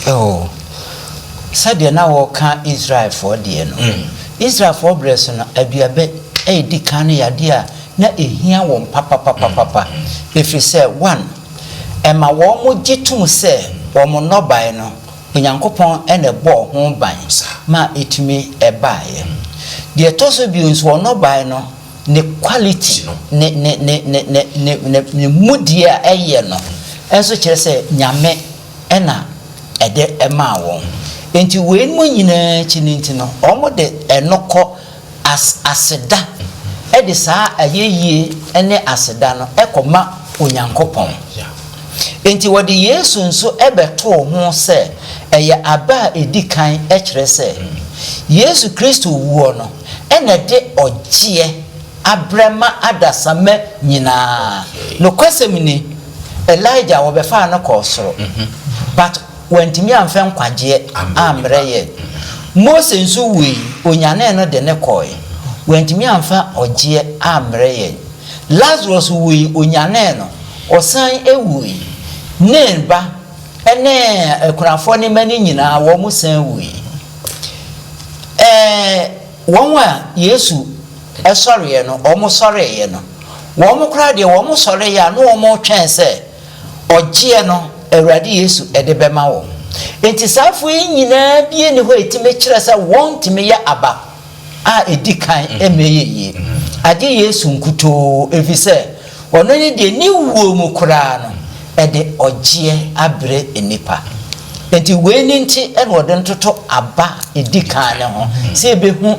Oh, sɛdeɛ na wɔka Israelfoɔ deɛ no. Mm. Israelfoɔ berɛ so no, aduaba a edi kan no yɛ adeɛ a na ehia wɔn papapapapa, ɛfiri sɛ, 1 ɛma wɔgye tom sɛ wɔn nnɔbae no, Onyankopɔn na ɛbɔɔ ho ban ma ɛtumi baeɛ. Deɛ ɛtɔ so bio nso, wɔn nnɔbae no, ne quality, ne, ne, ne, ne, ne, ne, ne, ne mudie a ɛyɛ no nso kyerɛ sɛ Nyame na ɛde maa wɔn. Enti, weinom nyinaa akyi no nti no, wɔde ɛno kɔ. as aseda de saa ayɛyie ne aseda no kɔma Onyankopɔn. Enti wɔde Yesu nso bɛtoo ho sɛ ɛyɛ aba a ɛdi kan kyerɛ sɛ Yesu Kristo wuo no na ɛde ɔgyeɛ abrɛ ma adasamma nyinaa. Nokwasɛm ni, Elijah wɔbɛfaa no kɔɔ soro but Wantumi amfa nkwagyeɛ ammrɛ yɛn. Mose nso wuui, wɔnyanee no de no kɔɔe. Wantumi amfa ɔgyeɛ ammrɛ yɛn. Lasarus wuui, wɔnyanee no, ɔsan wuui. Nain ba ne akunafoɔ no mma no nyinaa, wɔsan wuui. Ɛɛ, wɔn a Yesu sɔreeɛ no, wɔsɔreeɛ no, wɔn koraa deɛ wɔsɔreeɛ a na wɔretwɛn sɛ Ɔgyeɛ no, Awurade Yesu de bɛma wo. Enti saafoɔ yi nyinaa bi nni hɔ a ɛtumi kyerɛ sɛ wɔntumi yɛ aba a ɛdi kan mmɛyɛ yie, agye Yesu nkutoo, ɛfiri sɛ Ɔno ne deɛ ne wuo mu koraa no ɛde ɔgyeɛ abrɛ nnipa. Enti wei no nti na wɔde ntoto aba a ɛdi kan no ho, sɛ yɛbɛhu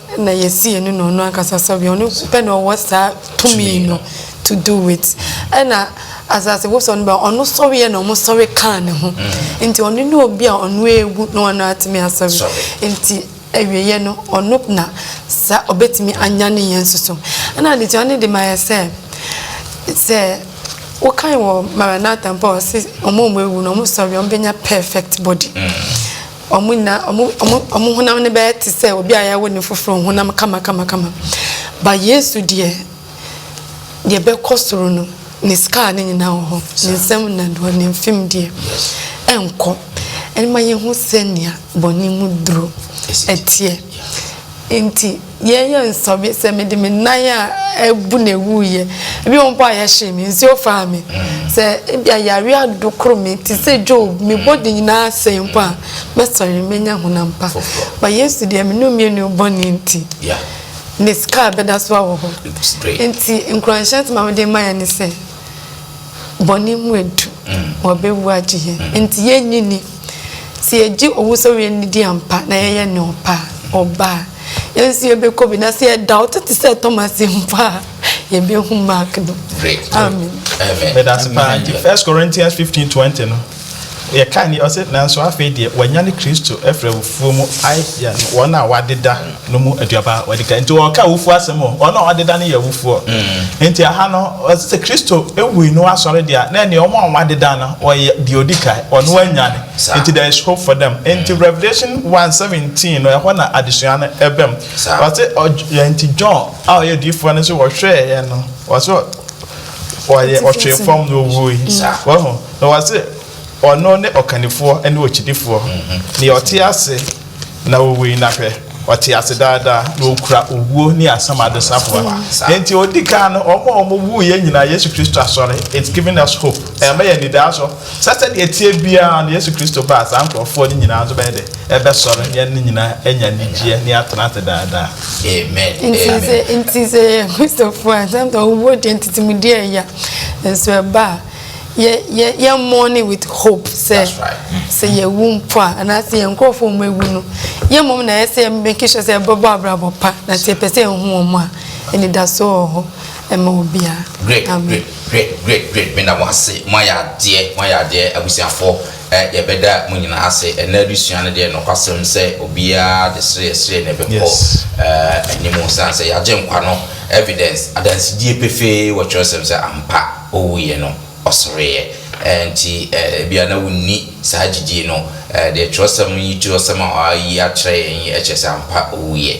na yɛsi yɛne no ɔno ankasa sɛbea ɔno nso pɛ na ɔwɔ saa tumi no to do it ɛna asase wosɔ no bɛ ɔno sɔreɛ na ɔmo sɔre kaa ne ho mm. nti ɔno ne obi a ɔno egu na ɔno atumi asɔre nti awieɛ no ɔno na sa ɔbɛtumi anya ne yɛn soso ɛna adetua ne de ma yɛ sɛ sɛ wokan wɔ maranatha mpo a ɔse ɔmo ɔmo ewu na ɔmo sɔre ɔmo bɛnya perfect body mm. Wɔn nyinaa, wɔn, wɔn, wɔn honam no bɛyɛ te sɛ obi a yɛawo no foforo, honam kamakamakama. But Yesu deɛ, deɛ ɛbɛkɔ soro no, ne scar no nyinaa wɔ hɔ. Ne nsam nnadewa, ne mfem deɛ, ɛnkɔ. Ɛno ma yɛhu sɛnea bɔne mu duro teɛ. Nti. Yɛnyɛ nsɔhwɛ sɛ mede me nan a abu na ewuiɛ. Ebi wɔ hɔ mpo a yɛhyee me, nsuo faa me. Sɛ ebia yareɛ adokoro me te sɛ Job, me body nyinaa asɛe mpo a, mɛsɔre, mɛnya honam pa. But Yesu deɛ, me ne wo mmienu bɔne nti, Ne scar bɛda so awɔ hɔ. Nti nkuranhyɛ nsɛm a mede rema yɛn ne sɛ, Bɔne mu edu, wɔbewu agye hɛn. Ntsi yennyi nni. Sɛ yɛgye owusoɛr yɛ no dzi ampa na yɛyɛ no ɔpɛ a, ɔba a, hɛn so yɛbɛkɔ bi, na sɛ yɛda ɔtse tse sɛ Thomas mpo a, yebehu Mark do. Amen. Meda ase paa. Nti First Corinthians fifteen twenty no. Yɛka nneɛ ɔse, Nanso afei deɛ wɔanyane Kristo afiri awufoɔ mu ayɛ no wɔn a wɔadeda no mu aduaba a wɔadi kan. Nti wɔreka awufoɔ asɛm o, wɔn a wɔadeda no yɛ awufoɔ. Nti ɛha no ɔse sɛ Kristo wuui na wasɔre deɛ a, na ɛneɛ wɔn a wɔadeda no wɔyɛ deɛ ɔdi kan, wɔn anyane. Nti there is hope for them. Nti Revelation one seventeen no ɛhɔ na adesua no bam. Ɔse ɔdw nti John a ɔyɛ odiyifoɔ no nso wɔhwɛeɛ no ɔse ɔyɛ ɔtwee fam na ɔwuui. Wahu? Na wɔse, Ɔno ne Ɔkannifoɔ ne Okyidifoɔ, Nea ɔte ase na owui, na hwɛ, ɔte ase daa daa, na okura owuo ne asamado safoa. Enti odi kan no, wɔn a wɔwuiɛ nyinaa, Yesu Kristo asɔre, it's giving us hope, ɛrema yɛn anidaso sɛ sɛdeɛ ɛteɛ biara no, Yesu Kristo ba a, saa nkorɔfoɔ no nyinaa nso bɛyɛ dɛn? Ɛbɛsɔre, na yɛne no nyinaa anya anigyeɛ, na yɛatena ase daa daa. Amen. Amen. Nti sɛ yɛyɛ Kristofoɔ a, sometimes owuo deɛ ntetemudeɛ yɛ ya, nanso ɛba a, yɛ yɛ yɛ mourning with hope sɛ sɛ yɛwu mpo a anaasɛ yɛn nkurɔfoɔ wɔn awu no yɛ mmom na ɛsɛ yɛ make sure sɛ ɛbɛbɔ abrabɔ pa na sɛ yɛpɛ sɛ ɛhu wɔn a anidaso wɔ hɔ ɛma obiara. great great great great great meda mo ase mo ayɛ adeɛ mo ayɛ adeɛ abusuafoɔ ɛ yɛbɛda mo nyinaa ase ɛnna adesua no deɛ nɔkwasɛm sɛ obiara de sereɛ sereɛ na ɛbɛkɔ ɛɛ anim san sɛ yɛagye nkwa no evidence adansidie pefee wɔ twerɛsɛm sɛ ampa ɔwuiɛ no, ɔsoreeɛ. Enti ebia na wonni saa gyidie no. Deɛ twerɛsɛm yi, twerɛsɛm a wɔayi akyerɛ yɛn yi kyerɛ sɛ ampa ɔwuiɛ,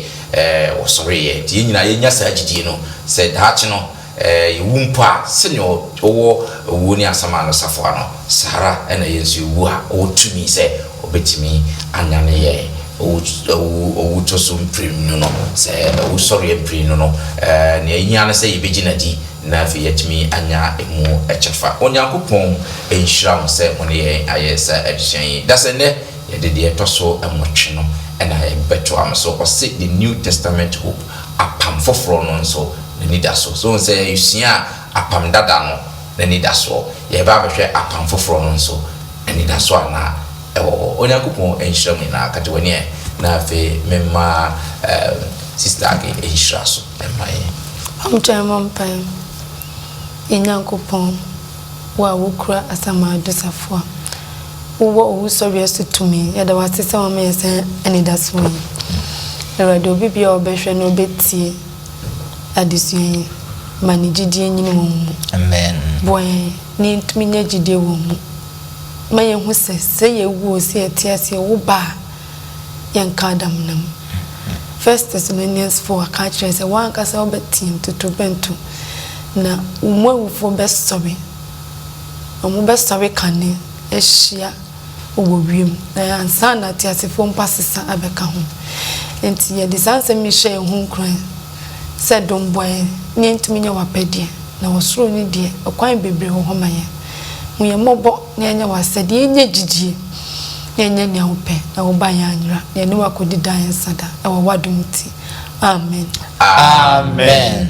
ɔsoreeɛ. Enti yɛn nyinaa yɛnya saa gyidie no sɛ daakye no yɛwu mpo a, sɛdeɛ ɔwɔ owuo ne asaman no safoa no, saa ara na yɛn nso yɛwu a, ɔwɔ tumi sɛ ɔbɛtumi anyane yɛn owutoso mprenu no. Sɛ owusɔreɛ mprenu no, deɛ ɛhia ne sɛ yɛbɛgyina di. Na afei yɛatumi anya emu kyɛfa. Onyankopɔn nhyira mo sɛ mo ne yɛn ayɛ saa adesua yi. Na sɛ nnɛ yɛde deɛ ɛtɔ so nwɔtwe no na yɛbɛtoa mo so, ɔse the New Testament Hope, Apam Foforɔ no nso n'anidasoɔ. So wohu sɛ yɛsuaa Apam Dada no n'anidasoɔ, yɛreba abɛhwɛ Apam Foforɔ no nso anidasoɔ a na ɛwɔ hɔ. Onyankopɔn nhyira mo nyinaa. Kate w'ani ɛ, na afei memma Sister Aggie nhyira so. ma yɛn. Momgyae mmɔ mpae. Yɛn Nyankopɔn, wo a wukura asaman do safoa, wowɔ owusɔreɛ so tumi, yɛda wo ase sɛ woama yɛn saa anidasoɔ yi. Awurade, obi biara a ɔbɛhwɛ na ɔbɛtie adesua yi, ma ne gyidie nyini wɔ wo mu. Amen. Boa yɛn na yɛntumi nya gyidie wɔ wo mu. Ma yɛnhu sɛ, sɛ yɛwu oo, sɛ yɛte ase oo, woba a, yɛnka adamena mu. First Thessalonians four aka akyerɛ yɛn sɛ wo ankasa wobɛteɛ mu totorobɛnto, na wo mu awufoɔ bɛsɔre, wɔbɛsɔre kane ahyia wo wɔ wiem, na ansa na ateasefoɔ mpo asesa abɛka ho. Enti yɛde saa nsɛm yi hyɛ yɛn ho nkuran sɛ dom boa yɛn ma yɛntumi nyɛ w'apɛdeɛ, na ɔsoro no deɛ, ɛkwan bebree wɔ hɔ ma yɛn. Hu yɛn mmɔbɔ na yɛnyɛ w'asɛdeɛ, yɛnyɛ gyidie na yɛnyɛ nea wopɛ, na wo ba yɛn anyera, na yɛne wo akɔdi daa yɛn nsa da, ɛwɔ w'adom nti. Amen. Amen.